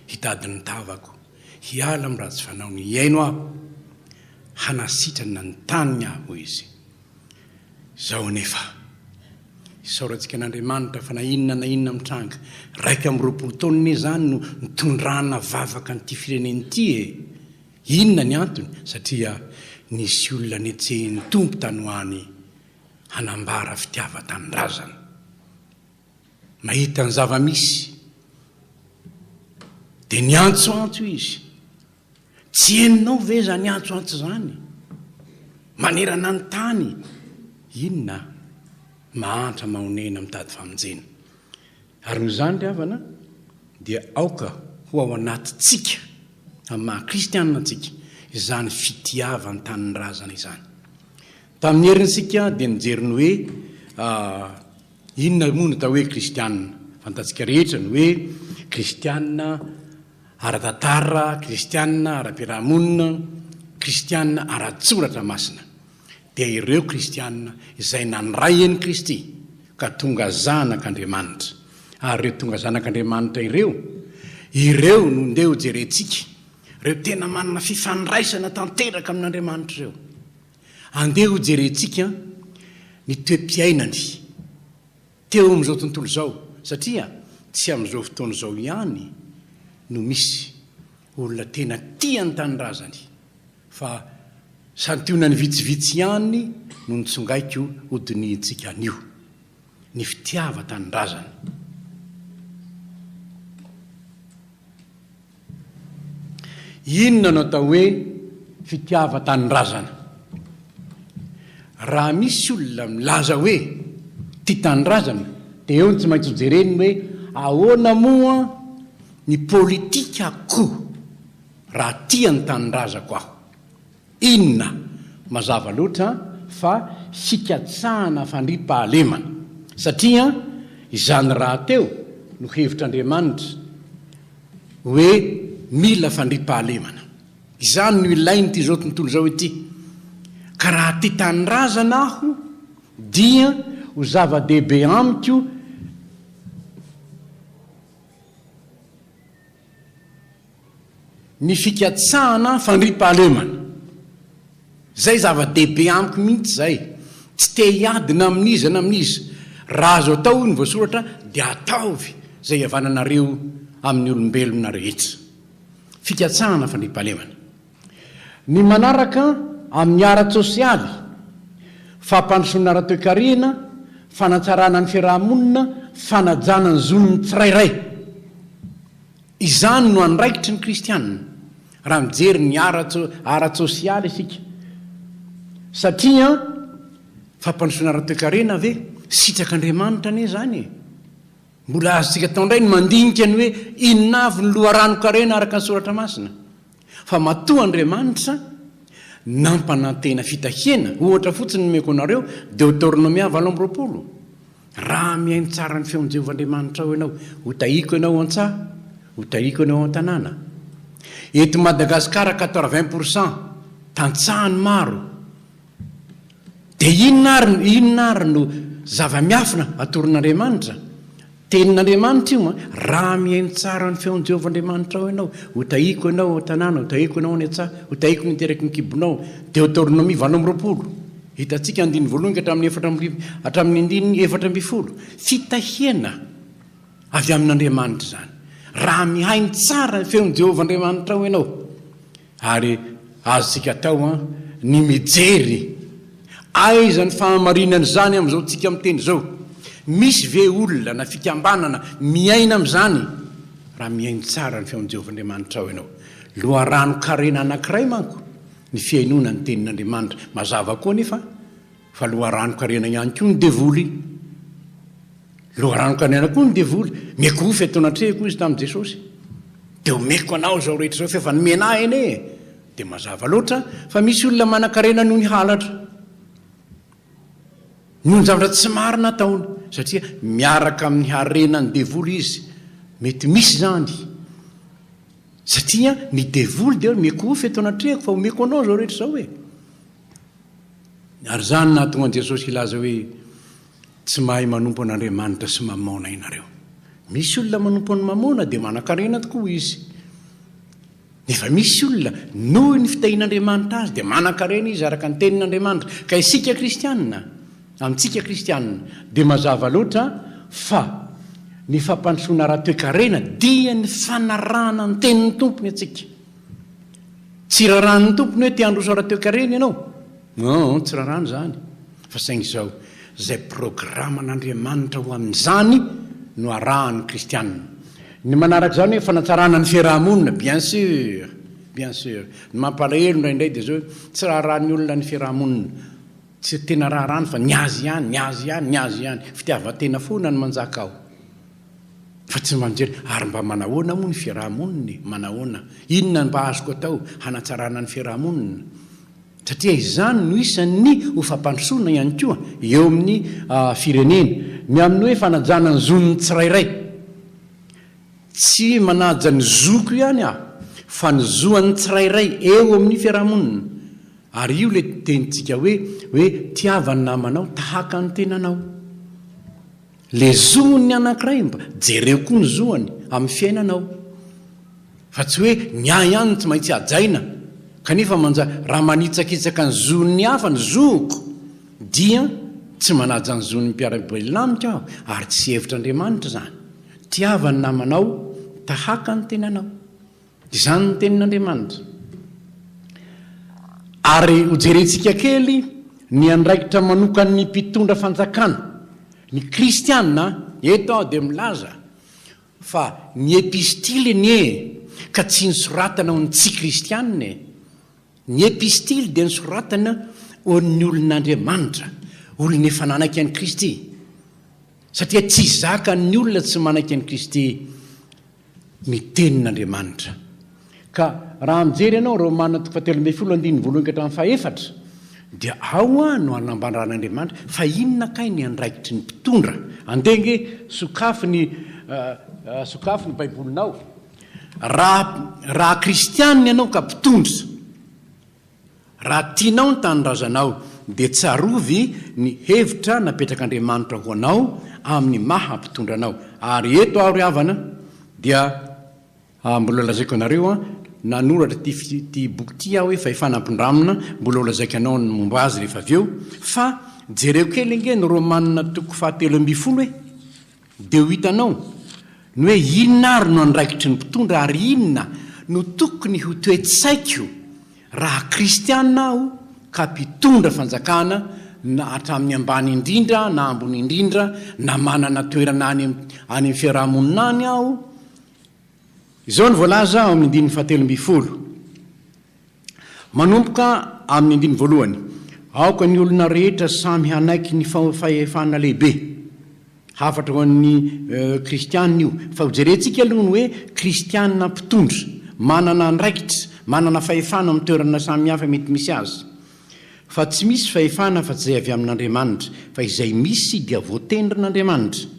Hitady ny tavako, hiala amin'ny ratsy fanaony, hihaino aho, hanasitrana ny taniny aho, hoy izy. Izao anefa, isaorantsika an'Andriamanitra fa na inona na inona mitranga, iraika amby roapolo taona anie izany no nitondrana vavaka an'ity firenena ity e! Inona ny antony? Satria nisy olona netsehin'ny Tompo tany ho any hanambara fitiavan-tanindrazana. Nahita ny zava-misy, dia niantsoantso izy. Tsy henonao ve izany antsoantso izany? Manerana ny tany, inona? Mahantra mahonena mitady famonjena. Ary noho izany, ry havana, dia aoka ho ao anatintsika, amin'ny maha-kristianina antsika, izany fitiavan-tanindrazana izany. Tamin'ny herintsika dia nijery ny hoe, Inona moa no atao hoe kristiana? Fantatsika rehetra ny hoe kristiana ara-tantara, kristiana ara-piarahamonina, kristiana ara-tsoratra masina. Dia ireo kristiana izay nandray an'i Kristy ka tonga zanak'Andriamanitra. Ary ireo tonga zanak'Andriamanitra ireo, ireo no ndeha hojerentsika, ireo tena manana fifandraisana tanteraka amin'Andriamanitra ireo. Andeha hojerentsika ny toe-piainany teo amin'izao tontolo izao, satria tsy amin'izao fotoana izao ihany no misy olona tena tia ny tanindrazany, fa santionany vitsivitsy ihany no nitsongaiko hodinihintsika anio, ny fitiavan-tanindrazany. Inona no atao hoe fitiavan-tanindrazana? Raha misy olona milaza hoe tia tanindrazana dia eo no tsy maintsy hojereny hoe ahoana moa ny politikako raha tia ny tanindrazako aho. Inona? Mazava loatra fa fikatsahana fandriampahalemana, satria izany rahateo no hevitr'Andriamanitra hoe mila fandriampahalemana. Izany no ilain'ity izao tontolo izao ity. Ka raha tia tanindrazana aho, dia ho zava-dehibe amiko ny fikatsahana fandriampahalemana. Izay zava-dehibe amiko mihitsy izay, tsy te hiady na amin'iza na amin'iza. Raha azo atao ny voasoratra dia ataovy izay hihavananareo amin'ny olombelona rehetra. Fikatsahana fandriampahalemana. Ny manaraka amin'ny ara-tsosialy, fampandrosoana ara-toekarena, fanatsarana ny fiaraha-monina, fanajana ny zon'ny tsirairay. Izany no andraikitry ny kristiana raha mijery ny ara-tsosialy isika. Satria fampandrosoana ara-toekarena ve? Sitrak'Andriamanitra anie izany e! Mbola azontsika atao indray ny mandinika ny hoe inona avy ny loharanon-karena araka ny Soratra Masina. Fa matoa Andriamanitra nampanantena fitahiana, ohatra fotsiny nomeko anareo, Deoteronomia valo amby roapolo, Raha mihaino tsara ny feon'i Jehovah Andriamanitrao ianao, hotahiko ianao ao an-tsaha, hotahiko ianao ao an-tanàna. Eto Madagasikara, quatre-vingts pour cent, tantsaha ny maro. Dia inona ary no inona ary no zava-miafina atoron'Andriamanitra? Tenin'Andriamanitra io an! Raha mihaino tsara ny feon'i Jehovah Andriamanitrao ianao, Hotahiko ianao ao an-tanàna, hotahiko ianao any an-tsaha, hotahiko ny hiteraky ny kibonao. Deoteronomia valo amby roapolo. Hitantsika andininy voalohany ka hatramin'ny efatra amby hatramin'ny andininy efatra ambin'ny folo. Fitahiana avy amin'Andriamanitra izany. Raha mihaino tsara ny feon'i Jehovah Andriamanitrao ianao. Ary azontsika atao an, ny mijery. Aiza ny fahamarinan'izany amin'izao tsika miteny izao? Misy ve olona na fikambanana miaina amin'izany? Raha mihaino tsara ny feon'i Jehovah Andriamanitrao ianao. Loharanon-karena anankiray manko ny fihainoana ny Tenin'Andriamanitra. Mazava koa anefa, Fa loharanon-karena ihany koa ny devoly. Loharanon-karena koa ny devoly. Meko ofy eto anatrehako hoy izy tamin'i Jesosy. Dia omeko anao izao rehetra izao fa efa nomena ahy anie e. Dia mazava loatra fa misy olona manan-karena noho ny halatra. Noho ny zavatra tsy marina ataony. Satria miaraka amin'ny harenan'ny devoly izy. Mety misy izany. Satria ny devoly dia hoe meko ofy eto anatrehako fa omeko anao izao rehetra izao e. Ary izany no nahatonga an'i Jesosy hilaza hoe, Tsy mahay manompo an'Andriamanitra sy Mamôna ianareo. Misy olona manompo an'i Mamôna dia manan-karena tokoa izy. Nefa misy olona, noho ny fitahian'Andriamanitra azy, dia manan-karena izy araka ny Tenin'Andriamanitra. Ka isika Kristianina, amintsika Kristianina, dia mazava loatra fa ny fampandrosoana ara-toekarena dia ny fanarahana ny Tenin'ny Tompo ny antsika. Tsy rarahan'ny Tompo ny hoe te handroso ara-toekarena ianao. Aa, tsy rarany izany. Fa saingy izao, izay programan'Andriamanitra ho amin'izany no arahan'ny kristiana. Ny manaraka izany hoe fanatsarana ny fiaraha-monina, bien sur, bien sur. Ny mampalahelo indraindray dia izao hoe tsy rarahan'ny olona ny fiaraha-monina. Tsy tena raharahany fa ny azy ihany, ny azy ihany, ny azy ihany. Fitiavan-tena foana no manjaka ao. Fa tsy manjery. Ary mba manahoana moa ny fiaraha-monina e? Manahoana? Inona mba azoko atao hanatsarana ny fiaraha-monina? Satria izany no isan'ny ho fampandrosoana ihany koa eo amin'ny firenena. Ny amin'ny hoe fanajana ny zon'ny tsirairay. Tsy manaja ny zoko ihany aho fa ny zo an'ny tsirairay eo amin'ny fiaraha-monina. Ary io ilay tenintsika hoe hoe tiava ny namanao tahaka ny tenanao. Le zohon ny anankiray mba jereo koa ny zohany amin'ny fiainana ao fa tsy hoe ny ahy ihany no tsy maintsy hajaina kanefa manja raha manitsakitsaka ny zohon ny hafa ny zohoko dia tsy manaja ny zohon ny mpiara-belona amiko aho ary tsy hevitr' Andriamanitra izany. Tiava ny namanao tahaka ny tenanao. Izany ny Tenin'Andriamanitra. Ary hojerentsika kely ny andraikitra manokan'ny mpitondra fanjakana. Ny Kristiana, eto aho dia milaza fa ny epistily anie ka tsy nosoratana ho an'ny tsy Kristiana e. Ny epistily dia nosoratana ho an'ny olon'Andriamanitra, olona efa nanaiky an'i Kristy. Satria tsy zakan'ny olona tsy manaiky an'i Kristy ny Tenin'Andriamanitra. Ka raha mijery ianao Romana toko fahatelo ambin'ny folo andininy voalohany ka hatramin'ny fahefatra dia ao no anambaran'Andriamanitra fa inona kay ny andraikitry ny mpitondra. Andeha ange sokafy ny sokafy ny Baibolinao. Raha raha kristianina ianao ka mpitondra. Raha tianao ny tanindrazanao dia tsarovy ny hevitra napetrak'Andriamanitra ho anao amin'ny maha mpitondra anao. Ary eto aho ry havana dia mbola lazaiko anareo an, nanoratra ity boky ity aho hoe fahefana ampindramina, mbola ho lazaiko anao ny momba azy rehefa avy eo, fa jereo kely ange ny Romanina toko fahatelo ambin'ny folo e! Dia ho hitanao ny hoe inona ary no andraikitry ny mpitondra ary inona no tokony ho toe-tsaiko raha kristiana aho ka mpitondra fanjakana na hatramin'ny ambany indrindra na ambony indrindra na manana toerana any any amin'ny fiaraha-monina any aho. Izao no voalaza ao amin'ny andininy fahatelo ambin'ny folo. Manomboka amin'ny andininy voalohany, Aoka ny olona rehetra samy hanaiky ny fahefana lehibe. Hafatra ho an'ny Kristianina io, fa hojerentsika aloha ny hoe Kristianina mpitondra, manana andraikitra, manana fahefana amin'ny toerana samy hafa mety misy azy. Fa tsy misy fahefana afa-tsy izay avy amin'Andriamanitra, fa izay misy dia voatendrin'Andriamanitra.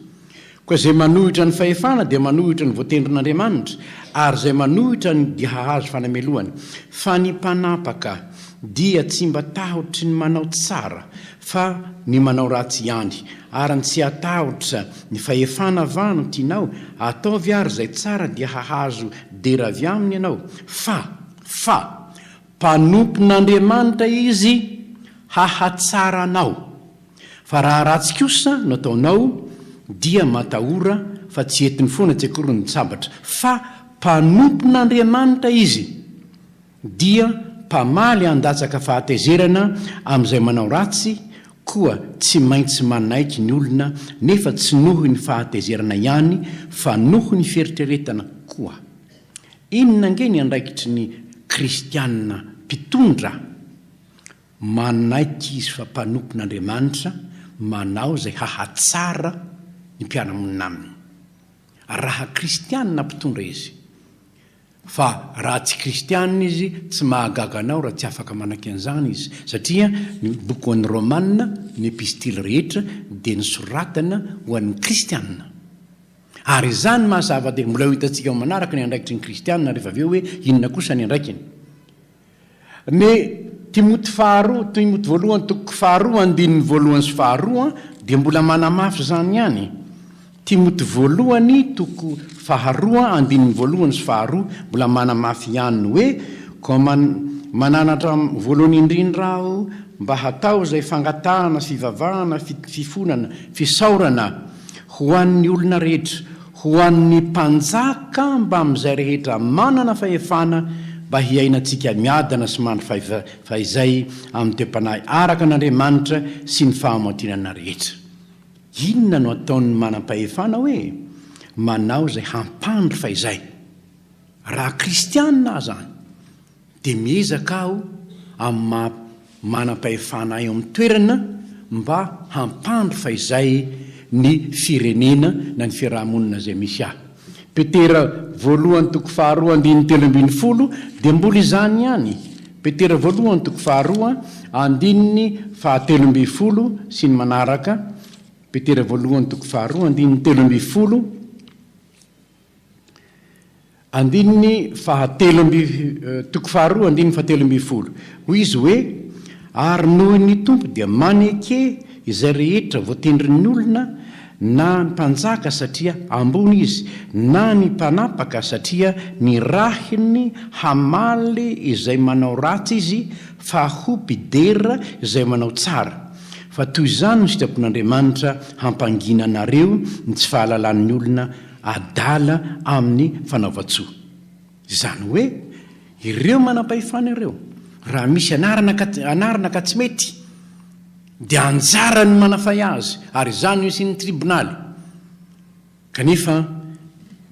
Koa izay manohitra ny fahefana dia manohitra ny voatendrin'Andriamanitra, ary izay manohitra ny dia hahazo fanamelohana. Fa ny mpanapaka dia tsy mba tahotry ny manao tsara fa ny manao ratsy ihany, ary ny tsy hatahotra ny fahefana va no tianao? Ataovy ary izay tsara dia hahazo dera avy aminy ianao, fa, fa mpanompon'Andriamanitra izy hahatsara anao. Fa raha ratsy kosa no ataonao dia matahora fa tsy entiny foana tsy akory ny sabatra fa mpanompon'Andriamanitra izy dia mpamaly handatsaka fahatezerana amin'izay manao ratsy koa tsy maintsy manaiky ny olona nefa tsy noho ny fahatezerana ihany fa noho ny fieritreretana koa. Inona ange ny andraikitry ny kristiana mpitondra? Manaiky izy fa mpanompon'Andriamanitra manao izay hahatsara ny mpiara-monina aminy. Raha kristianina mpitondra izy. Fa raha tsy kristianina izy, tsy mahagaga anao raha tsy afaka manaiky an'izany izy, satria ny boky ho an'ny Romana, ny epistily rehetra dia nosoratana ho an'ny kristianina. Ary izany maha zava-dehibe, mbola ho hitantsika ao manaraka ny andraikitry ny kristianina rehefa avy eo hoe inona kosa ny andraikiny. Ny Timoty faharoa, Timoty voalohany toko faharoa andininy voalohany sy faharoa dia mbola manamafy izany ihany. Timoty voalohany toko faharoa andininy voalohany sy faharoa mbola manamafy ihany ny hoe, Koa man, mananatra voalohany indrindra aho mba hatao izay fangatahana, fivavahana, fifonana, fisaorana ho an'ny olona rehetra, Ho an'ny mpanjaka mbamin'izay rehetra manana fahefana mba hiainantsika miadana sy mandry fahizay amin'ny toe-panahy araka an'Andriamanitra sy ny fahamantinana rehetra. Inona no ataon'ny manam-pahefana hoe manao izay hampandry fahizay, raha kristiana aza? dia miezaka aho amin'ny maha manam-pahefana ahy eo amin'ny toerana mba hampandry fahizay ny firenena na ny fiaraha-monina izay misy ahy. Petera voalohany toko faharoa andininy telo ambin'ny folo dia mbola izany ihany, Petera voalohany toko faharoa andininy fahatelo ambin'ny folo sy ny manaraka, Petera voalohany toko faharoa andininy telo ambin'ny folo, Andininy fahatelo amby, toko faharoa andininy fahatelo ambin'ny folo. Hoy izy hoe, Ary noho ny Tompo dia maneke izay rehetra voatendrin'ny olona, na ny mpanjaka satria ambony izy, na ny mpanapaka satria nirahiny hamaly izay manao ratsy izy, fa ho mpidera izay manao tsara. Fa toy izany no sitrapon'Andriamanitra hampanginanareo ny tsy fahalalan'ny olona, adala amin'ny fanaovan-tsoa. Izany hoe, ireo manam-pahefana ireo, raha misy anarana ka, anarana ka tsy mety, dia anjaran'ny manafay azy, ary izany no isian'ny tribonaly. Kanefa,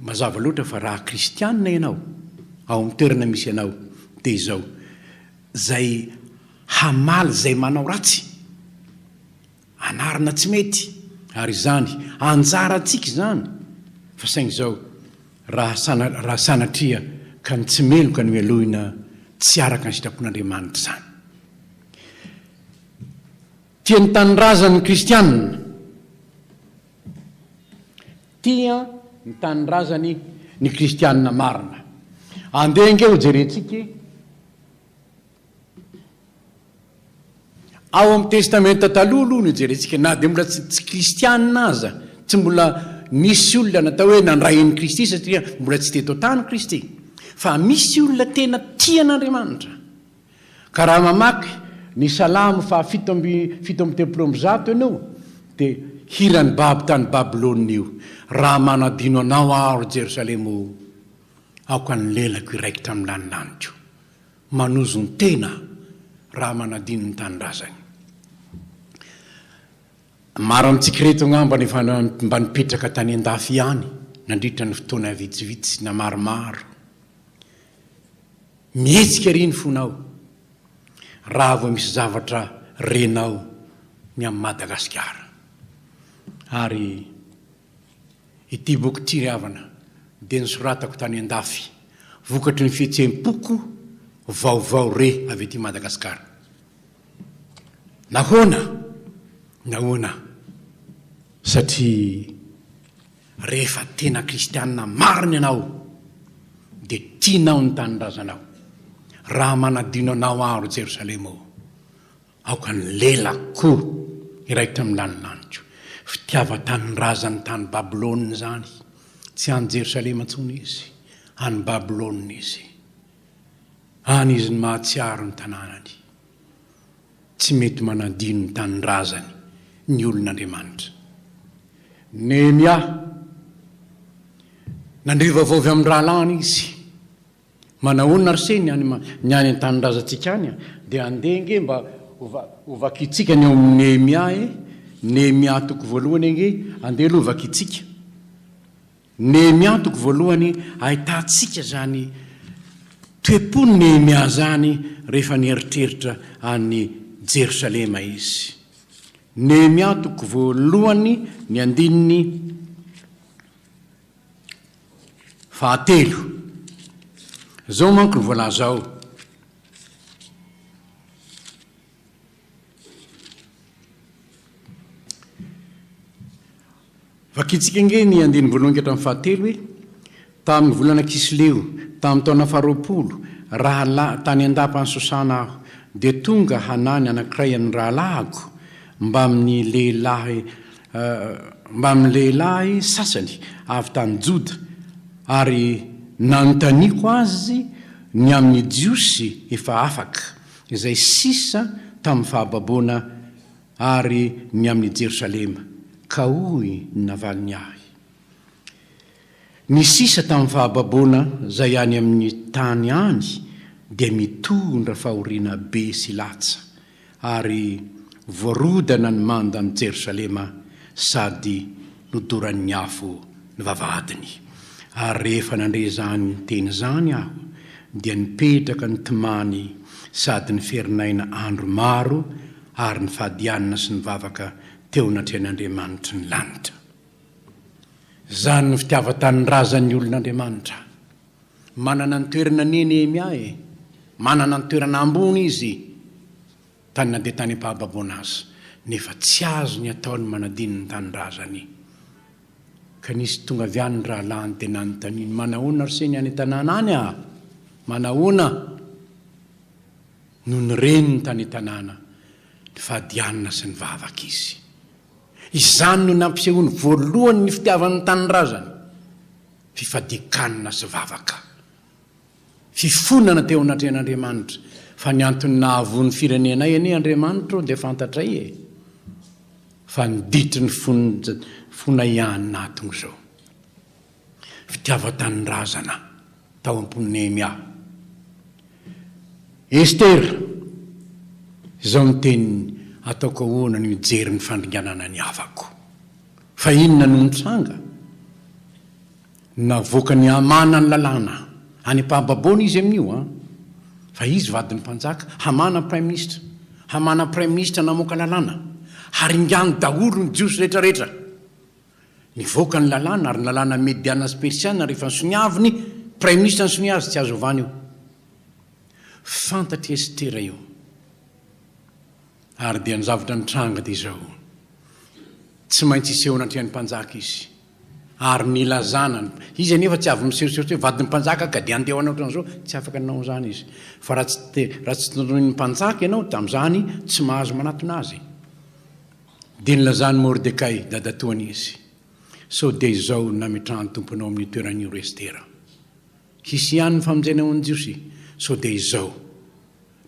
mazava loatra fa raha kristiana ianao, ao amin'ny toerana misy anao, dia izao, izay hamaly izay manao ratsy, Anarana tsy mety ary izany anjarantsika izany fa saingy izao raha sanatria ka ny tsy meloka no helohina tsy araka ny sitrapon'Andriamanitra izany. Tia ny tanindrazany ny kristianina. Tia ny tanindrazany ny kristianina marina. Andeha ange hojerentsika e! Ao amin'ny Testamenta Taloha aloha no jerentsika, na dia mbola tsy tsy kristiana aza, tsy mbola nisy olona natao hoe nandray an'i Kristy satria mbola tsy teto an-tany Kristy. Fa misy olona tena tia an'Andriamanitra. Ka raha mamaky ny Salamo fahafito amby fito amby telopolo amby zato ianao dia hiran'ny babo tany Babylona io, Raha manadino anao aho, ry Jerosalema ô, aoka ny lelako hiraikitra amin'ny lanilaniko. manozon-tena raha manadino ny tanindrazany. Maro amintsika ireto angamba no efa mba nipetraka tany an-dafy ihany nandritra ny fotoana vitsivitsy na maromaro. Mihetsika ery ny fonao raha vao misy zavatra renao ny amin'i Madagasikara ary Ity boky ity ry havana dia nosoratako tany an-dafy vokatry ny fihetseham-poko vaovao re avy ety Madagasikara. Nahoana? Nahoana? Satria rehefa tena kristianina marina ianao dia tianao ny tanindrazanao. Raha manadino anao aho ry Jerosalema ô! Aoka ny lela ko hiraikitra amin'ny lanilaniko. Fitiavan-tanindrazan'ny tany Babylona izany. Tsy any Jerosalema intsony izy. Any Babylona izy. Any izy no mahatsiaro ny tanànany. Tsy mety manadino ny tanindrazany ny olon'Andriamanitra. Nehemia, Nandre vaovao avy amin'ny rahalahiny izy. Manahoana ry se ny any ny any an-tanindrazantsika any dia andeha ange mba hovakintsika ny ao amin'i Nehemia e! Nehemia toko voalohany ange andeha aloha hovakintsika. Nehemia toko voalohany ahitantsika izany toe-pon'i Nehemia izany rehefa nieritreritra an'i Jerosalema izy. Nehemia toko voalohany ny andininy Fahatelo, izao manko no voalaza ao, Vakintsika ange ny andininy voalohany ka hatramin'ny fahatelo hoe, Tamin'ny volana Kisleo, tamin'ny taona faharoapolo, raha la, tany an-dapa any Sosana aho, dia tonga hanahy ny anankiray amin'ny rahalahiko, mbamin'ny lehilahy mbamin'ny lehilahy sasany avy tany Joda, ary nanontaniako azy ny amin'ny Jiosy efa afaka, izay sisa tamin'ny fahababoana, ary ny amin'i Jerosalema, ka hoy ny navaliny ahy, Ny sisa tamin'ny fahababoana izay any amin'ny tany any dia mitondra fahoriana be sy latsa, ary voarodana ny manda an'i Jerosalema sady nodoran'ny afo ny vavahadiny. Ary rehefa nandre izany teny izany aho, dia nipetraka nitomany sady niferinaina andro maro ary nifadianana sy nivavaka teo anatrehan'Andriamanitry ny lanitra. Izany no fitiavan-tanindrazan'ny olon'Andriamanitra. Manana ny toerana anie Nehemia e! Manana ny toerana ambony izy tany nandeha tany am-pahababoana azy, nefa tsy azo ny atao ny manadino ny tanindrazany. Ka nisy tonga avy any ny rahalahiny dia nanontaniany, Manahoana ry se ny any an-tanàna any a? Manahoana no nireniny tany an-tanàna ny fahadianana sy ny vavaka izy? Izany no nampisehoany voalohany ny fitiavany ny tanindrazany. fifadian-kanina sy vavaka, fifonana teo anatrehan'Andriamanitra, fa ny antony nahavoa ny firenenay anie Andriamanitra ô dia fantatray e! fa ny ditry ny fon'ny fonay ihany nahatonga izao. Fitiavan-tanindrazana tao am-pon'i Nehemia. Estera, izao ny teniny, ataoko ahoana ny mijery ny fandringanana ny havako? Fa inona no nitranga? Navoakan'i Hamana ny lalàna. Any am-pahababoana izy amin'io an! Fa izy vadin'ny mpanjaka. Hamana praiminisitra. Hamana praiminisitra namoaka lalàna. Haringany daholo ny Jiosy rehetrarehetra. Nivoaka ny lalàna, ary ny lalàna mediana sy persiana, rehefa soniaviny, praiminisitra ny sonia azy, tsy azo ovana io. Fantatr'i Estera io. Ary dia ny zavatra nitranga dia izao, tsy maintsy hiseho anatrehan'ny mpanjaka izy, ary nilazana ny, izy anefa tsy avy miseriseritra hoe vadin'ny mpanjaka ka dia andeha ho any ohatran'izao, tsy afaka nanao an'izany izy, fa raha tsy te, raha tsy tandroin'ny mpanjaka ianao tamin'izany, tsy mahazo manatona azy. Dia nilazan'i Mordekay dadatoany izy, Sao dia izao no nametrahan'ny tomponao amin'ny toerany io ry Estera? Hisy ihany ny famonjena ho an'ny Jiosy, sao dia izao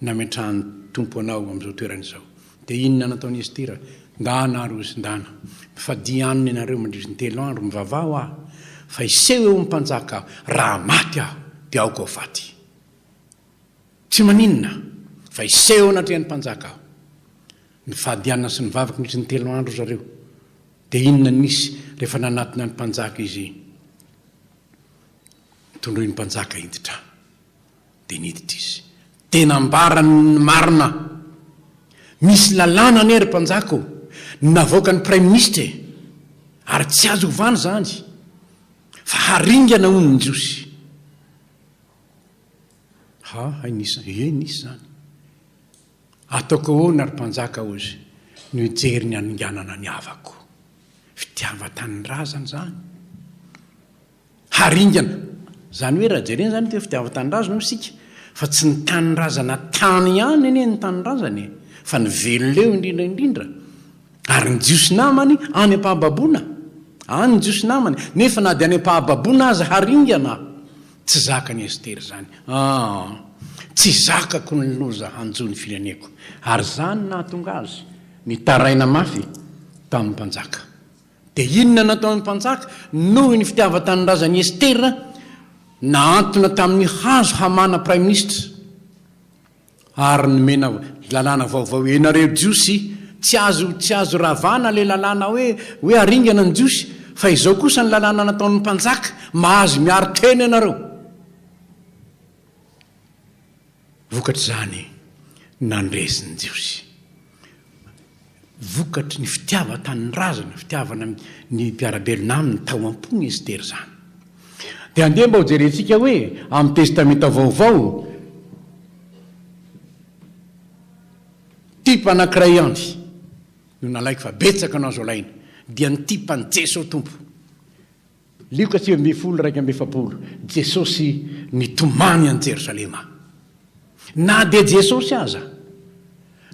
nametrahan'ny Tompo anao amin'izao toerana izao. Dia inona nataon'i Estera? Ndana ary hozy ndana, mpifadia hanina ianareo mandritry ny telo andro, mivavaha ho aho, fa hiseho eo amin'ny mpanjaka aho, raha maty aho, dia aoka ho faty. Tsy maninona aho, fa hiseho eo anatrehan'ny mpanjaka aho. Nifady hanina sy nivavaka nandritry ny telo andro ry zareo. Dia inona no nisy rehefa nanatona ny mpanjaka izy? Tondroin'ny mpanjaka hiditra any. Dia niditra izy. Dia nambarany ny marina. Misy lalàna anie ry mpanjaka ô, navoakan'ny praiminisitra e! Ary tsy azo ovana izany, fa haringana hono ny Jiosy. Ha, hay nisy izany? Ie, nisy izany. Ataoko ahoana ry mpanjaka hozy no hijery ny haninganana ny havako? Fitiavan-tanindrazana izany. haringana. Izany hoe raha jerena izany dia fitiavan-tanindrazana hoy isika fa tsy ny tanindrazana tany ihany anie ny tanindrazana e, fa ny velona eo indrindra indrindra. Ary ny jiosy namany any am-pahababoana, any ny jiosy namany, nefa na dia any am-pahababoana aza haringana. Tsy zakan'i Estera izany. Aa! Tsy zakako ny loza hanjo ny fireneko. Ary izany nahatonga azy nitaraina mafy tamin'ny mpanjaka. Dia inona no ataon'ny mpanjaka? Noho ny fitiavan-tanindrazan'i Estera, nahantona tamin'ny hazo Hamana praiminisitra, ary nomena lalàna vaovao, Ianareo Jiosy, tsy azo, tsy azo ravana ilay lalàna hoe, hoe haringana ny Jiosy, fa izao kosa ny lalàna nataon'ny mpanjaka, Mahazo miaro tena ianareo. Vokatr'izany, nandresy ny Jiosy. Vokatry ny fitiavan-tanindrazana, fitiavana ny mpiara-belona aminy tao am-pon'i Estera izany. Dia andeha mba hojerentsika hoe amin'ny Testamenta Vaovao, type anankiray ihany no nalaiko fa betsaka no azo alaina, dia ny type an'i Jesoa Tompo. Lioka sivy ambin'ny folo iraika amby efapolo, Jesosy nitomany any Jerosalema. Na dia Jesosy aza,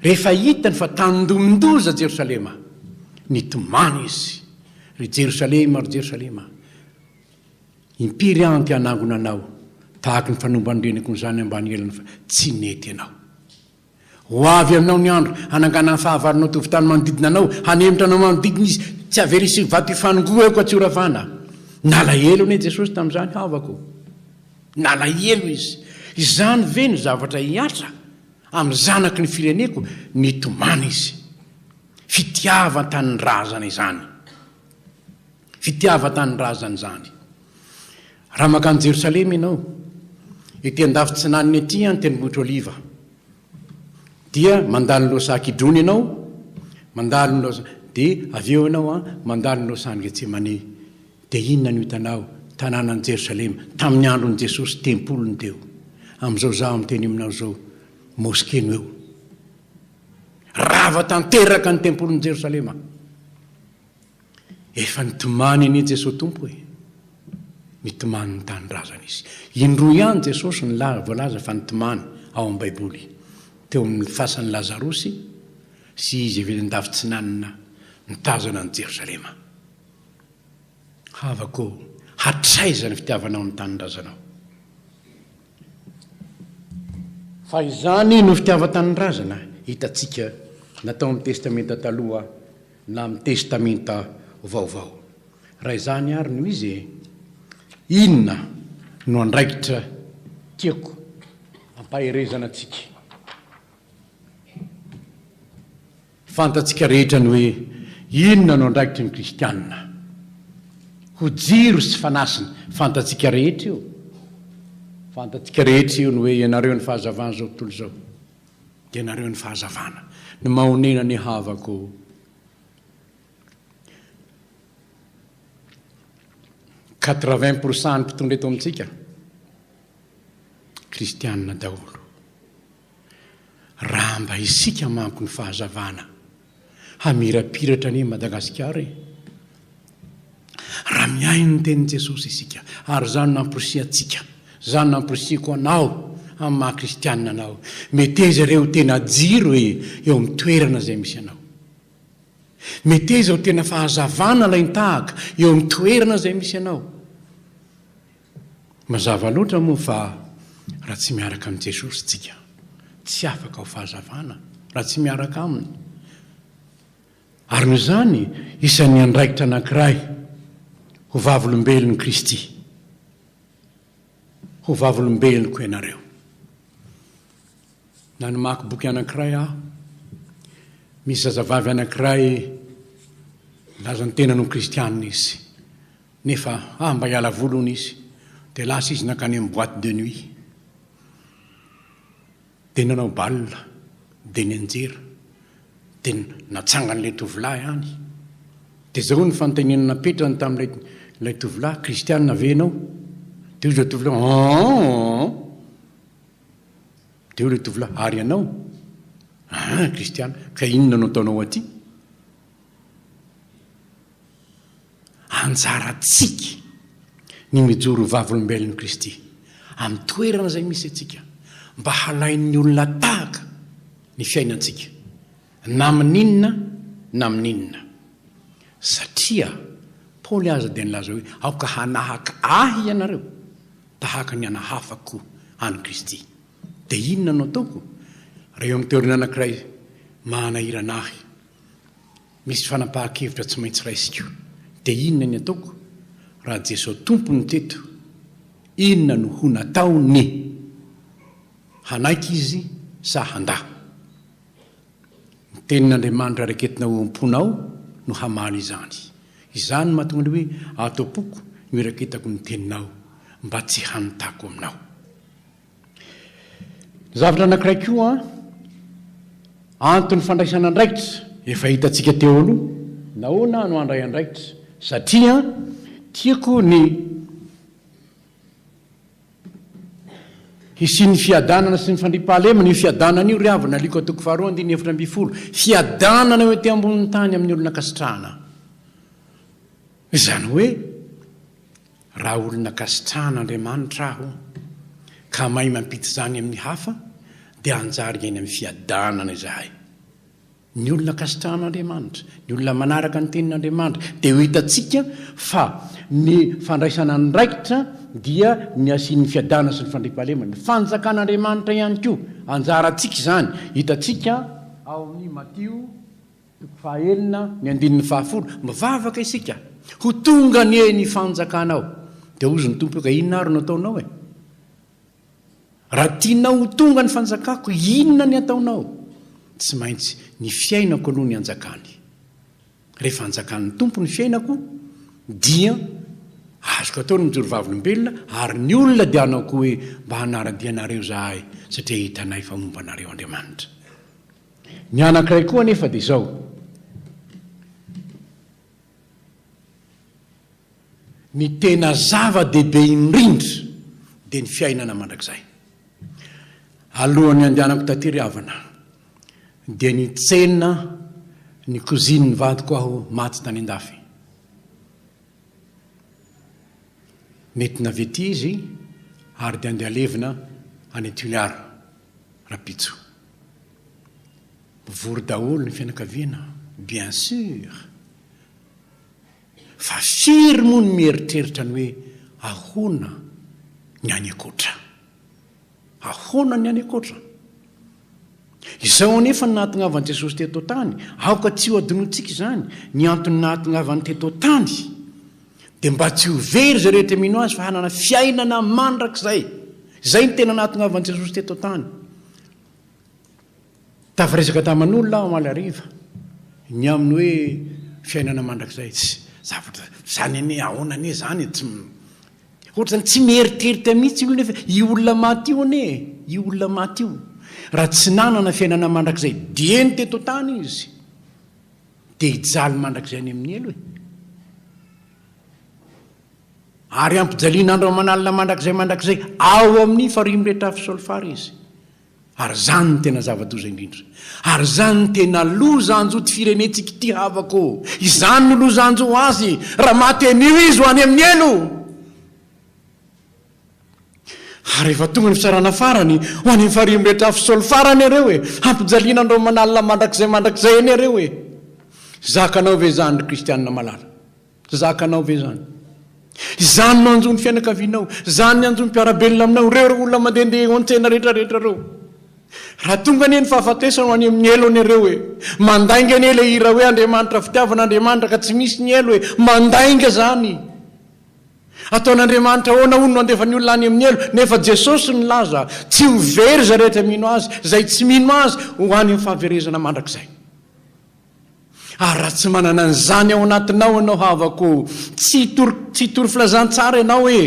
rehefa hitany fa tandindomin-doza Jerosalema, nitomany Izy, Ry Jerosalema, ry Jerosalema, impiry anty hanangona anao, tahaka ny fanomban'ny reniko ny zanany ambany elany fa tsy nety ianao. Ho avy aminao ny andro hananganan'ny fahavalonao tovotany manodidina anao, hanemotra anao manodidina izy, tsy haverisiny vato hifanongoa eo ka tsy horavana. Nalahelo anie Jesosy tamin'izany havako ô! Nalahelo Izy. Izany ve no zavatra hihatra amin'ny zanaky ny fireneko? Nitomany Izy. Fitiavan-tanindrazana izany. Fitiavan-tanindrazana izany. Raha mankany Jerosalema ianao, ety an-davin-tsinaniny ety ny tendrombohitra Oliva, dia mandalo ny lohasaha Kidrona ianao, mandalo ny lohasaha, dia avy eo ianao mandalo ny lohasahan'i Getsemane. Dia inona no hitanao? Tanànan'i Jerosalema. Tamin'ny andron'i Jesosy, tempoly no teo. Amin'izao izaho miteny aminao izao, moske no eo. Rava tanteraka ny tempolin'i Jerosalema. Efa nitomany anie Jesoa Tompo e! Mitomany ny tanindrazana Izy. Indroa ihany Jesosy no voalaza fa nitomany ao amin'ny Baiboly, teo amin'ny fasan'i Lazarosy sy izy avy eny an-davin-tsinanana nitazana an'i Jerosalema. Havako ô, hatraiza ny fitiavanao ny tanindrazanao? Fa izany no fitiavan-tanindrazana hitantsika natao amin'ny Testamenta Taloha. na amin'ny Testamenta Vaovao. Raha izany àry no izy e! Inona no andraikitra tiako ampaherezana antsika? Fantatsika rehetra ny hoe inona no andraikitry ny Kristianina. Ho jiro sy fanasina, fantatsika rehetra io. Fantatsika rehetra io ny hoe ianareon'ny fahazavan'izao tontolo izao. Dia nareo ny fahazavana. Ny mahonena ny havako. Quatre-vingts pour cent ny mpitondra eto amintsika kristianina daholo. Raha mba isika manko ny fahazavana Hamirapiratra anie Madagasikara e! Raha mihaino ny tenin'i Jesosy isika, ary izany nampirisihantsika, izany nampirisihiko anao amin'ny maha kristianina anao, meteza re ho tena jiro e, eo amin'ny toerana izay misy anao. Meteza ho tena fahazavana ilay ny tahaka, eo amin'ny toerana izay misy anao. Mazava loatra moa fa raha tsy miaraka amin'i Jesosy isika, tsy afaka ho fahazavana raha tsy miaraka Aminy. Ary noho izany, isan'ny andraikitra anankiray ho vavolombelon'i Kristy, Ho vavolombeloko ianareo. Na namaky boky anankiray aho, misy zazavavy anankiray milaza ny tenany ho kristiana izy. nefa ah mba hiala voly hono izy dia lasa izy nankany amin'ny boite de nuit dia nanao bal dia nianjera dia natsangan'ilay tovolahy any dia zao ny fanontaniana napetrany tamin'ilay ilay tovolahy kristianina ve ianao dia hoy ilay tovolahy an dia hoy ilay tovolahy ary ianao ah kristiana ka inona no ataonao aty Anjarantsika ny mijoro ho vavolombelon'i Kristy amin'ny toerana izay misy antsika mba halain'ny olona tahaka ny fiainantsika na amin' inona na amin' inona. Satria Paoly aza dia nilaza hoe, Aoka hanahaka ahy ianareo tahaka ny anahafako an'i Kristy. Dia inona no ataoko raha eo amin'ny toerana anankiray manahirana ahy? Misy fanapahan-kevitra tsy maintsy raisiko, dia inona ny ataoko raha Jeso Tompo no teto? Inona no ho nataony? Hanaiky Izy sa handà? Ny Tenin'Andriamanitra raketinao ao am-ponao no hamaly izany. Izany no mahatonga ny hoe ato am-poko no iraketako ny Teninao mba tsy hanitako aminao. Zavatra anankiray koa anton'ny fandraisana andraikitra efa hitantsika teo aloha nahoana no handray andraikitra satria tiako ny hisian'ny fiadanana sy ny fandriampahalemana io fiadanana io ry havana aliko toko faharoa andininy efatra ambin'ny folo fiadanana eo ety ambonin'ny tany amin'ny olona ankasitrahana izany hoe Raha olona kasitrahan' Andriamanitra aho ka mahay mampita izany amin'ny hafa, dia hanjary eny amin'ny fiadanana izahay. Ny olona kasitrahan' Andriamanitra, ny olona manaraka ny tenin' Andriamanitra, dia ho hitantsika fa ny fandraisana andraikitra dia ny hasian'ny fiadanana sy ny fandriampahalemana, ny fanjakan' Andriamanitra ihany koa, anjarantsika izany, hitantsika ao amin'ny Matio. Toko fahaenina, ny andininy fahafolo, Mivavaka isika, Ho tonga anie ny fanjakanao. Dia hozy ny Tompo hoe, Ka inona ary no ataonao e? Raha tianao ho tonga ny fanjakako, inona ny ataonao? Tsy maintsy ny fiainako aloha ny anjakany. Rehefa anjakan'ny Tompo ny fiainako, dia azoko atao ny mijoro vavolombelona, ary ny olona dia hanao koa hoe, Mba hanara-dia anareo izahay, satria hitanay fa momba anareo Andriamanitra. Ny anankiray koa anefa dia izao, ny tena zava-dehibe indrindra dia ny fiainana mandrakizay. Alohan'ny handehanako taty ry havana dia nitsena ny cousine-n'ny vadiko aho maty tany an-dafy. Nentina avy ety izy ary dia andeha levona any Toliara, rahampitso. Vory daholo ny fianakaviana bien sur fa firy moa no mieritreritra ny hoe ahoana ny any ankoatra? Ahoana ny any ankoatra? Izao anefa ny nahatongavan'i Jesosy teto an-tany, aoka tsy ho adinointsika izany, ny antony nahatongavan'ny teto an-tany Dia mba tsy ho very izay rehetra mino Azy fa hanana fiainana mandrakizay. Izay no tena nahatongavany Jesosy teto an-tany. Tafaresaka taman'olona aho omaly hariva ny amin'ny hoe fiainana mandrakizay. Tsy zavatra izany anie ahoana anie izany e, tsy ohatrany tsy mieritreritra mihitsy io nefa io olona maty io anie e, io olona maty io raha tsy nanana fiainana mandrakizay dieny teto an-tany izy, dia hijaly mandrakizay any amin'ny helo e! Ary hampijalian'Andro aman'alina mandrakizay mandrakizay ao amin'ny farihy mirehitra afo sy solifara izy. Ary izany no tena zava-doza indrindra. Ary izany no tena loza hanjoty firenentsika ity havako. Izany no loza hanjo azy raha maty anio izy ho any amin'ny helo. Ary efa tonga ny fisarahana farany ho any amin'ny farihy mirehitra Afisol farany iareo e! Hampijaliana an'ireo manalina mandrakizay mandrakizay eny iareo e! Zakanao ve izany ry kristianina malala? Zakanao ve izany? Izany no hanjo ny fianakavianao, izany ny hanjo ny mpiara-belona aminao, ireo ireo olona mandehandeha eo an-tsena rehetra rehetra ireo. Raha tonga anie ny fahafatesana ho any amin'ny helo anie ireo e! Mandainga anie ilay hira hoe Andriamanitra fitiavana Andriamanitra ka tsy misy ny helo e! Mandainga izany! Ataon'Andriamanitra ahoana hono no handefa ny olona any amin'ny helo nefa Jesosy nilaza tsy ho very izay rehetra mino Azy, izay tsy mino Azy ho any amin'ny fahaverezana mandrakizay. Ary raha tsy manana an'izany ao anatinao ianao havako, tsy hitory, tsy hitory filazantsara ianao e!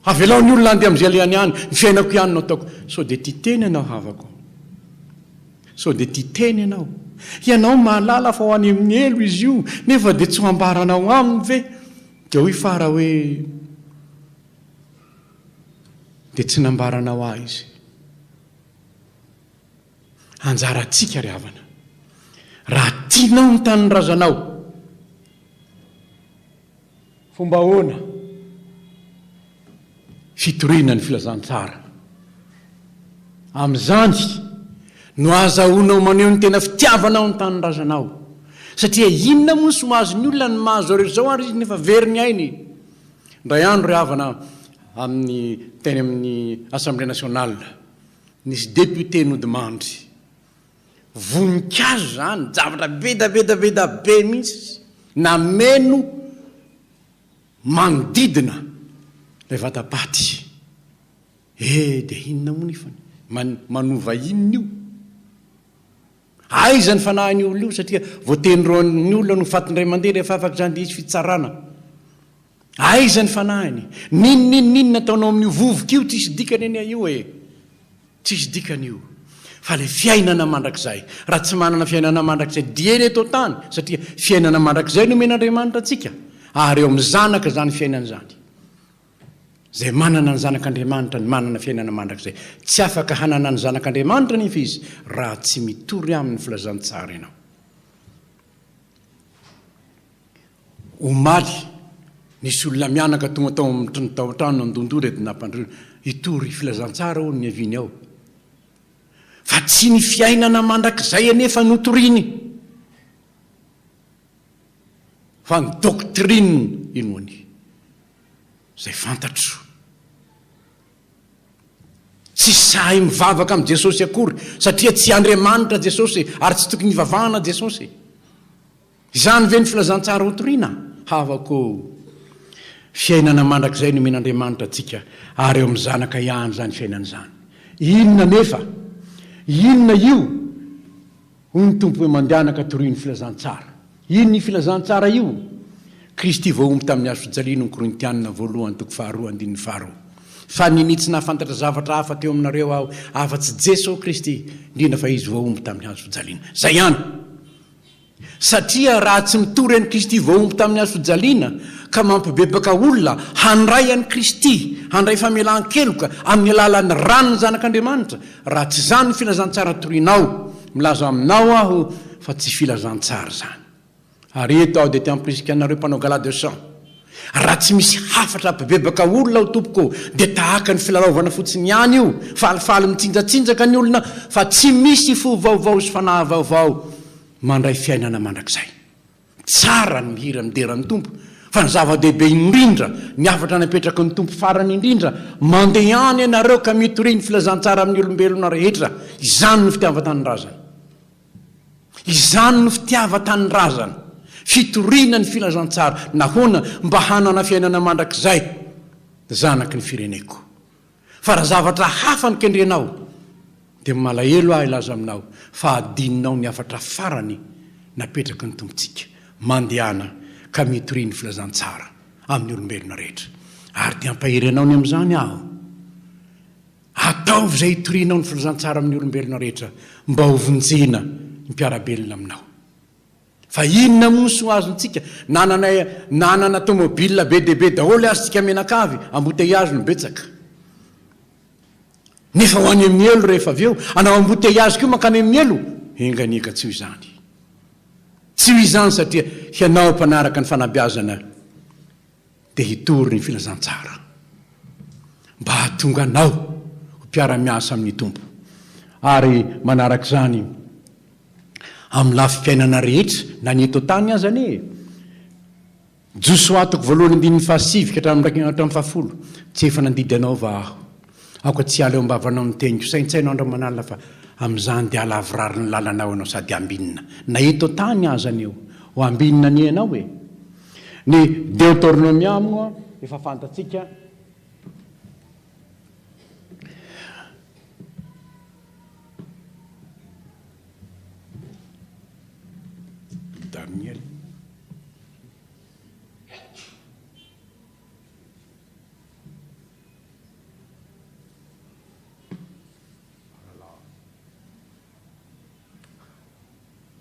Avelao ny olona handeha amin'izay aleany any, ny fiainako ihany no ataoko. Sao dia tia tena ianao havako? Sao dia tia tena ianao? Ianao mahalala fa ho any amin'ny helo izy io, nefa dia tsy ho ambaranao aminy ve? Dia hoy Fara hoe, Dia tsy nambaranao ahy izy. Anjarantsika ry havana, raha tianao ny tanindrazanao, Fomba ahoana fitoriana ny filazantsara? Amin'izany no ahazahoanao maneho ny tena fitiavanao ny tanindrazanao. Satria inona moa ny tsy ho azon'ny olona ny maha zao rehetra zao ary izy no efa very ny ainy? Indray andro ry havana amin'ny teny amin'ny Assemblée Nationale, nisy député nodimandry. voninkazo zany javatra bedabedabe mihitsy nameno manodidina lay vatapaty ee dia inona moa nefany manova inona io aiza ny fanahin'io olona io satria voatendron'ny olona no fatin-dray aman-dreny rehefa afaka izany dia hisy fitsarana Aiza ny fanahiny? Ninoninon'inona ataonao amin'io vovoka io? Tsisy dikany anie io e! Tsisy dikany io. Fa ilay fiainana mandrakizay. Raha tsy manana fiainana mandrakizay, dieny eto an-tany, satria fiainana mandrakizay no omen'Andriamanitra antsika, ary eo amin'ny Zanaka izany fiainana izany. Izay manana ny Zanak'Andriamanitra no manana fiainana mandrakizay. Tsy afaka hanana ny Zanak'Andriamanitra anefa izy raha tsy mitory aminy filazantsara ianao. Omaly, nisy olona mianaka tonga tao amin'ny tao-trano Andondora eto Nampandroina. Hitory filazantsara hono ny aviany ao. Fa tsy ny fiainana mandrakizay anefa no toriany, fa ny doctrine inoany, izay fantatro. Tsy sahy mivavaka amin'i Jesosy akory, satria tsy Andriamanitra Jesosy, ary tsy tokony hivavahana Jesosy. Izany ve ny filazantsara hotorina? Havako ô! Fiainana mandrakizay nomen'Andriamanitra antsika, ary eo amin'ny Zanaka ihany izany fiainana izany. Inona anefa? Inona io? Hoy ny Tompo hoe, Mandehanaka torio ny filazantsara. Inona io filazantsara io? Kristy voahombo tamin'ny hazo fijaliana ao Korintianina voalohany toko faharoa andininy faharoa. Fa nini tsy nahafantatra zavatra hafa teo aminareo aho afa-tsy Jeso Kristy, indrindra fa Izy voahombo tamin'ny hazo fijaliana. Izay ihany. Satria raha tsy mitory an'i Kristy voahombo tamin'ny hazofijaliana ka mampibebaka olona handray an'i Kristy, handray famelan-keloka amin'ny alalan'ny ran'ny Zanak'Andriamanitra, raha tsy izany ny filazantsara torianao, milaza aminao aho fa tsy filazantsara izany. Ary eto aho dia te hampirisika anareo mpanao gala de sang. Raha tsy misy hafatra hampibebaka olona aho tompoko dia tahaka ny filalaovana fotsiny ihany io, falifaly mitsinjatsinjaka ny olona fa tsy misy fo vaovao sy fanahy vaovao mandray fiainana mandrakizay. Tsara ny mihira midera ny Tompo fa ny zava-dehibe indrindra, ny hafatra napetraky ny Tompo farany indrindra, mandehana ianareo ka mitoria ny filazantsara amin'ny olombelona rehetra, izany no fitiavan-tanindrazana. Izany no fitiavan-tanindrazana, fitoriana ny filazantsara, nahoana? Mba hanana fiainana mandrakizay, zanaky ny fireneko. Fa raha zavatra hafa no kendrenao, dia malahelo aho hilaza aminao fa adinonao ny hafatra farany napetraky ny Tompontsika, Mandehana ka mitoria ny filazantsara amin'ny olombelona rehetra. Ary dia hampahery anao ny amin'izany aho. Ataovy izay hitorianao ny filazantsara amin'ny olombelona rehetra mba ho vonjena ny mpiara-belona aminao. Fa inona moa ny soa azontsika? Nanana nanana tomobilina be dia be daholo aza isika mianakavy, embouteillage no betsaka. Nefa ho any amin'ny helo rehefa avy eo, hanao embouteillage koa mankany amin'ny helo? Enga anie ka tsy ho izany. Tsy ho izany satria hianao mpanaraka ny fanabeazana Dia hitory ny filazantsara mba hahatonga anao ho mpiara-miasa amin'ny Tompo, ary manaraka izany amin'ny lafim-piainana rehetra na ny eto an-tany aza anie e! Josoa toko voalohany andininy fahasivy ka hatramin'ny iraika hatramin'ny fahafolo, Tsy efa nandidy anao va Aho? Aoka tsy hiala eo am-bavanao ny teniko. Saintsaino andro aman'alina fa amin'izany dia halavorary ny lalanao ianao sady hambinina, na eto an-tany aza anie o! Ho hambinina anie ianao e! Ny Deoteronomia moa efa fantatsika Daniela.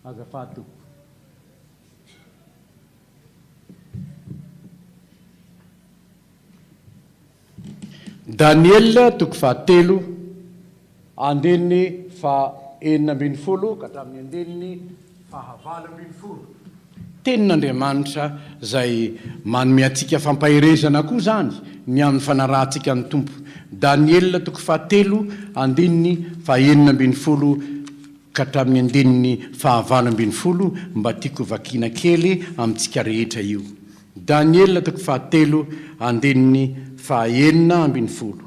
Azafady tompoko. Daniela toko fahatelo andininy faha enina ambin'ny folo ka hatramin'ny andininy faha valo ambin'ny folo. Tenin'Andriamanitra izay manome antsika fampaherezana koa izany ny amin'ny fanarahantsika ny Tompo. Daniela toko fahatelo andininy faha enina ambin'ny folo. ka hatramin'ny andininy fahavalo ambin'ny folo mba tiako vakiana kely amintsika rehetra io. Daniela toko fahatelo andininy fahaenina ambin'ny folo.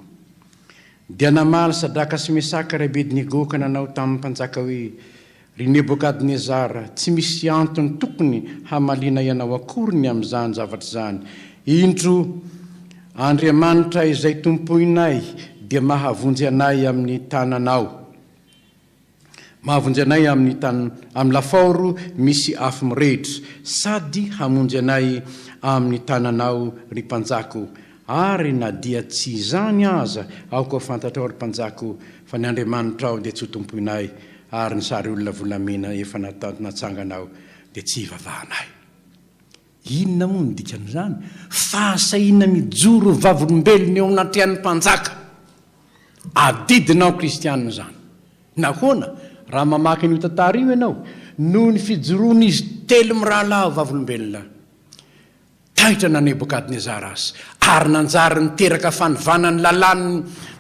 Dia namaly Sadraka sy Mesaka ry Abednego ka nanao tamin'ny mpanjaka hoe, Ry Nebokadnezara, tsy misy antony tokony hamalianay anao akory ny amin'izany zavatra izany. Indro, Andriamanitra izay tompoinay dia mahavonjy anay amin'ny tananao. Mahavonjy anay amin'ny tany amin'ny lafaoro misy afo mirehitra, sady hamonjy anay amin'ny tananao, ry mpanjako, ary na dia tsy izany aza, aoka ho fantatrao, ry mpanjako, fa ny Andriamanitrao dia tsy ho tompoinay, ary ny sary olona volamena efa natsanganao dia tsy hivavahanay. Inona moa no dikan'izany? Fahasahiana mijoro ho vavolombelona eo anatrehan'ny mpanjaka. Adidinao kristianina izany. Nahoana? Raha mamaky an'io tantara io ianao, noho ny fijoroan'izy telo mirahalahy ho vavolombelona taitra an'i Nebokadnezara azy, ary nanjary niteraka fanovana ny lalàny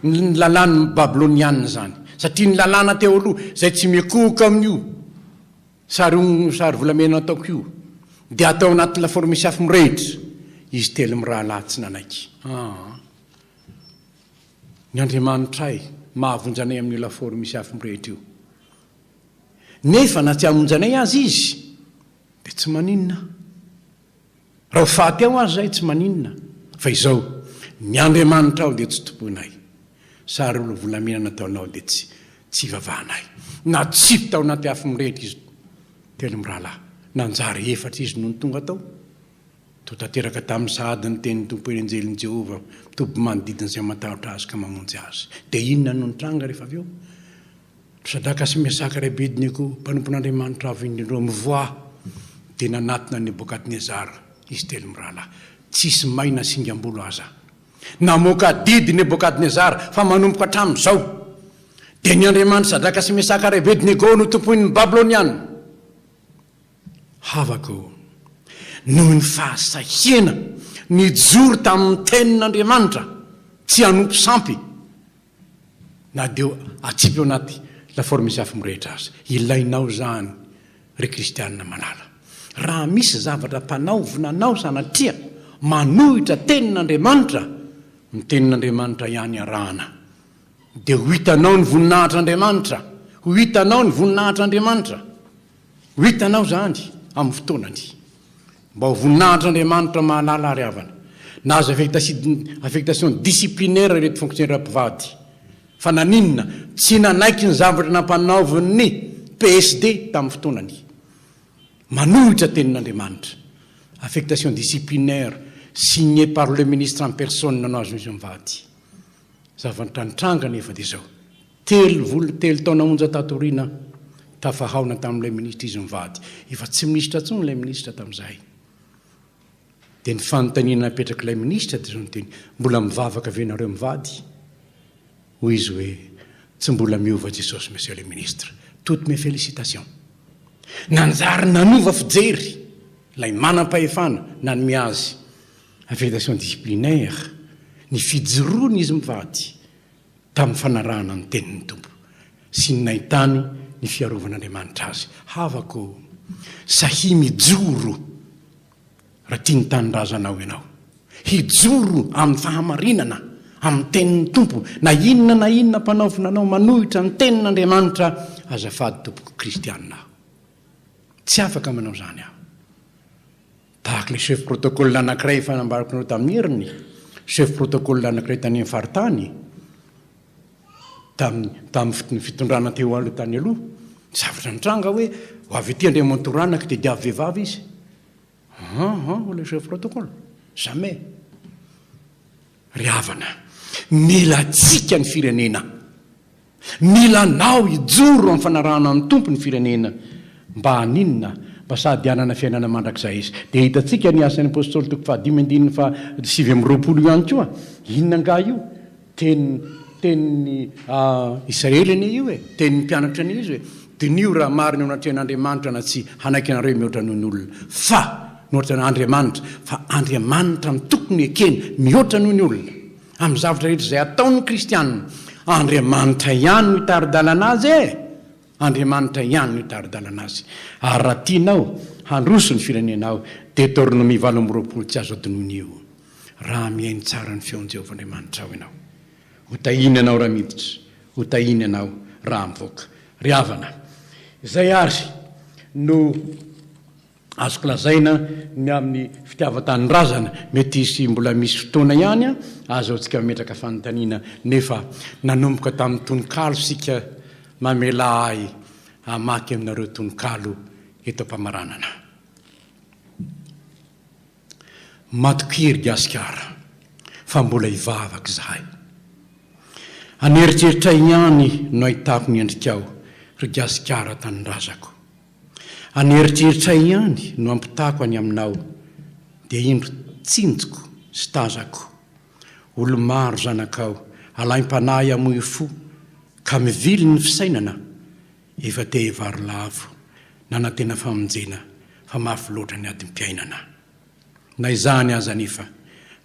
ny lalàn'ny Babylonianina izany, satria ny lalàna teo aloha, izay tsy mikohoka amin'io sary sary volamena ataoko io, dia atao anaty lafaoro misy afo mirehitra. Izy telo mirahalahy tsy nanaiky. Ah! Ny Andriamanitray mahavonjy anay amin'io lafaoro misy afo mirehitra io. Nefa na tsy hamonjy anay aza Izy, dia tsy maninona aho. Raha ho faty ao aza izahay, tsy maninona. Fa izao, ny Andriamanitrao dia tsy tompoinay, sary olo volamena nataonao dia tsy tsy ivavahanay. Natsipy tao anaty afo mirehitra izy telo mirahalahy. Nanjary efatra izy nony tonga tao. Toa tanteraka tamin'ny sahady ny tenin'ny Tompo hoe, Anjelin'i Jehovah mitoby manodidina izay matahotra azy ka mamonjy azy. Dia inona no nitranga rehefa avy eo? Sadraka sy Mesaka ary Abednego, mpanompon'Andriamanitra Avo Indrindra ao amin'ny voa, dia nanatona an'i Nebokadnezara, izy telo mirahalahy. Tsisy may na singam-bolo aza. Namoaka adidy i Nebokadnezara fa manomboka hatramin'izao, dia ny Andriaman'i Sadraka sy Mesaka ary Abednego no tompoin'ny Babylonianina. Havako, noho ny fahasahiana nijoro tamin'ny Tenin'Andriamanitra tsy hanompo sampy, na dia atsipy ao anaty laforme izay afo mirehitra aza. Ilainao izany, ry Kristianina malala. Raha misy zavatra ampanaovina anao sanatria, manohitra Tenin'Andriamanitra, ny Tenin'Andriamanitra ihany iarahana, dia ho hitanao ny voninahitr'Andriamanitra, ho hitanao ny voninahitr'Andriamanitra. Ho hitanao izany amin'ny fotoanany. Mba ho voninahitr'Andriamanitra mahalala ary havana. Nahazo affectation disciplinaire ireto fonctionnaires mpivady. Fa naninona? Tsy nanaiky ny zavatra nampanaovin'ny PSD tamin'ny fotoanany. Manohitra tenin'Andriamanitra. Affectation disciplinaire signée par le ministre en personne no azon'izy io mivady. Zava-nitranitranga anefa dia izao. Telo vol telo taona monja tato aoriana tafahaona tamin'ilay minisitra izy mivady. Efa tsy minisitra intsony ilay minisitra tamin'izay. Dia ny fanontaniana napetrak'ilay minisitra dia izao no teny, mbola mivavaka ve nareo mivady? Hoy izy hoe, tsy mbola miova Jesosy Monsieur le Ministre. Toutes mes félicitations. Nanjary nanova fijery ilay manam-pahefana nanome azy affectation disciplinaire ny fijoroany izy mivady. tamin'ny fanarahana ny tenin'ny Tompo sy ny nahitany ny fiarovan'Andriamanitra azy. Havako ô, sahia mijoro raha tia ny tanindrazanao ianao. Hijoro amin'ny fahamarinana amin'ny tenin'ny Tompo na inona na inona ampanaovina anao, manohitra ny tenin'Andriamanitra azafady tompoko. Kristiana aho. Tsy afaka manao izany aho. Tahaka ny chef protocole anankiray efa nambarako anareo tamin'ny heriny, chef protocole anankiray tany amin'ny faritany, tamin'ny tamin'ny fitondrana teo aloha tany aloha, zavatra nitranga hoe ho avy aty Andriamatoa Ranaka tadiavo vehivavy izy. Han han hoy ilay chef protocole, jamais. Ry havana, mila antsika ny firenena. Mila anao hijoro amin'ny fanarahana ny Tompo ny firenena. Mba haninona? Mba sady hanana fiainana mandrakizay izy. Dia hitantsika ny Asan'ny Apostoly toko fahadimy andininy fahasivy amby roapolo ihany koa. Inona angaha io? Tenin'ny tenin'ny Israely anie io e, tenin'ny mpianatra anie izy e. Diniho raha marina eo anatrehan'Andriamanitra na tsia, hanaiky anareo mihoatra noho ny olona. Fa, mihoatra noho Andriamanitra, fa Andriamanitra no tokony ekena mihoatra noho ny olona. Amin'ny zavatra rehetra izay ataony ny kristiana, Andriamanitra ihany no hitari-dalana azy e! Andriamanitra ihany no hitari-dalana azy. Ary raha tianao handroso ny firenenao, Deteronomia valo amby roapolo tsy azo adinoina io. Raha mihaino tsara ny feon'i Jehovah Andriamanitrao ianao. Ho tahiny ianao raha miditra, ho tahiny ianao raha mivoaka. Ry havana, izay àry no azoko lazaina ny amin'ny fitiavan-tanindrazana. Mety hisy mbola misy fotoana ihany ahazoantsika mametraka fanontaniana, nefa nanomboka tamin'ny tononkalo isika. Mamelà ahy hamaky aminareo tononkalo eto am-pamaranana. Matokiry Gasikara fa mbola hivavaka izahay. Any eritreritra iny ihany no ahitako ny endrikao ry Gasikara tanindrazako. Any eritreritray ihany no ampitako any aminao dia indro tsinjoko sy tazako. Olomaro zanakao alaim-panahy hamoy fo ka mivily ny fisainana Efa te hivaro lavo, nanantena famonjena fa mafy loatra ny adim-piainana. Na izany aza anefa,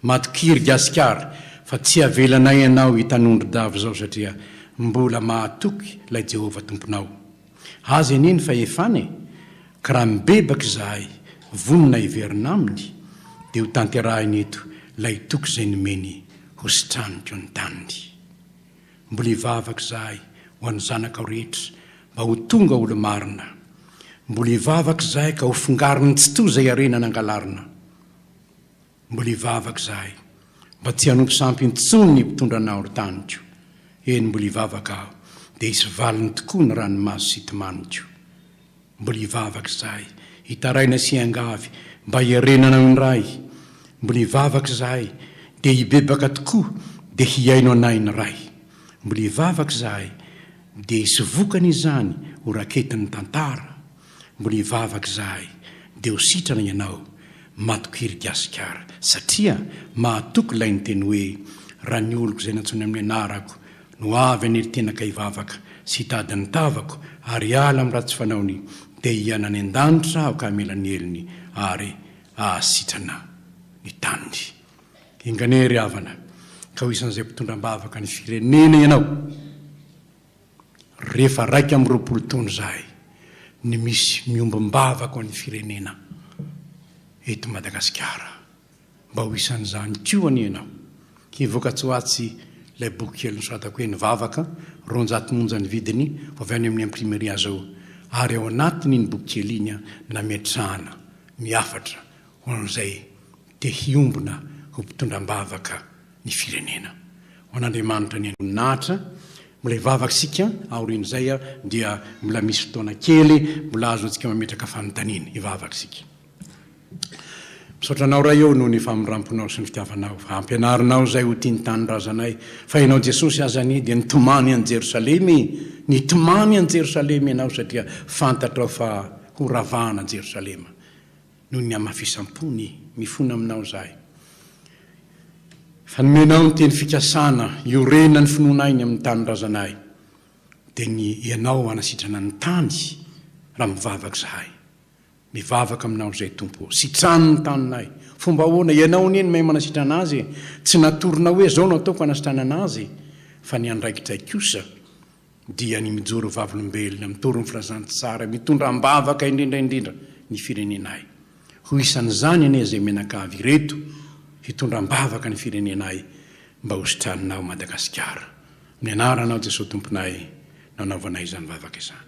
matokiry Gasikara fa tsy avelanay ianao hitanondri-dava izao satria mbola mahatoky ilay Jehovah Tomponao. Azy anie ny fahefana e! Ka raha mibebaka izahay vonona hiverina aminy dia ho tanterahiny eto ilay toky izay nomeny ho sitraniko ny taniny. Mbola hivavaka izahay ho an'ny zanakao rehetra mba ho tonga olo-marina. Mbola hivavaka izahay ka hofongarin'ny tsitoha izay harena nangalarina. Mbola hivavaka izahay mba tsy hanompo sampy intsony ny mpitondra anao ry taniko. Eny mbola hivavaka aho dia hisy valiny tokoa ny ranomaso sy itimaniko. Mbola hivavaka izahay hitaraina sy hiangavy mba hiarenana anao indray Mbola hivavaka izahay dia hibebaka tokoa dia hihaino anay indray Mbola hivavaka izahay dia hisy vokany izany ho raketin'ny tantara Mbola hivavaka izahay dia ho sitrana ianao Matokiry Gasikara satria mahatoky ilay niteny hoe Raha ny oloko izay nantsoina amin'ny anarako no avy an'ily tenaka hivavaka sy hitady ny tavako ary hiala amin'ny ratsy fanaony, dia hiaina any an-danitra aho ka hamela ny helony ary hahasitrana ny taniny. Enganeha ry havana, ka ho isan'izay mpitondra am-bavaka ny firenena ianao, rehefa iraika amby roapolo taona izahay no misy miombom-bavaka ho an'ny firenena eto Madagasikara. Mba ho isan'izany koa anie ianao. Hivoaka tsy ho atsy ilay boky kely nosoratako hoe Ny vavaka, roanjato monja ny vidiny, avy any amin'ny imprimerie Azo, ary ao anatin'iny boky kely iny nametrahana ny hafatra ho an'izay te hiombona ho mpitondra am-bavaka ny firenena. Ho an'Andriamanitra ny Voninahitra, mbola hivavaka isika, aorian'izay dia mbola misy fotoana kely mbola ahazoantsika mametraka fanontaniana. Hivavaka isika. Misaotra anao Ray ô noho ny famindrampnao sy ny fitiavanao fa ampianarinao zay ho tia ny tanindrazanay fa ianao Jesosy aza anie dia nitomany any Jerosalema e, nitomany any Jerosalema ianao satria fantatrao fa ho ravahana Jerosalema noho ny hamafisampony, mifona aminao zahay fa nomenao ny teny fikasana hiorenana ny finoanay ny amin'ny tanindrazanay dia ny ianao hanasitrana ny tany raha mivavaka zahay. Mivavaka aminao izay Tompo ô! Sitrano ny taninay! Fomba ahoana? Ianao anie no mahay manasitrana azy e! Tsy natoronao hoe zao no ataoko hanasitranana azy fa ny andraikitray kosa dia ny mijoro vavolombelona, mitory ny filazantsara, mitondra am-bavaka indrindra indrindra ny firenenay. Ho isan'izany anie izay mianakavy ireto hitondra am-bavaka ny firenenay mba ho sitraninao Madagasikara. Amin'ny anaranao Jesoa Tomponay no anaovanay izany vavaka izany.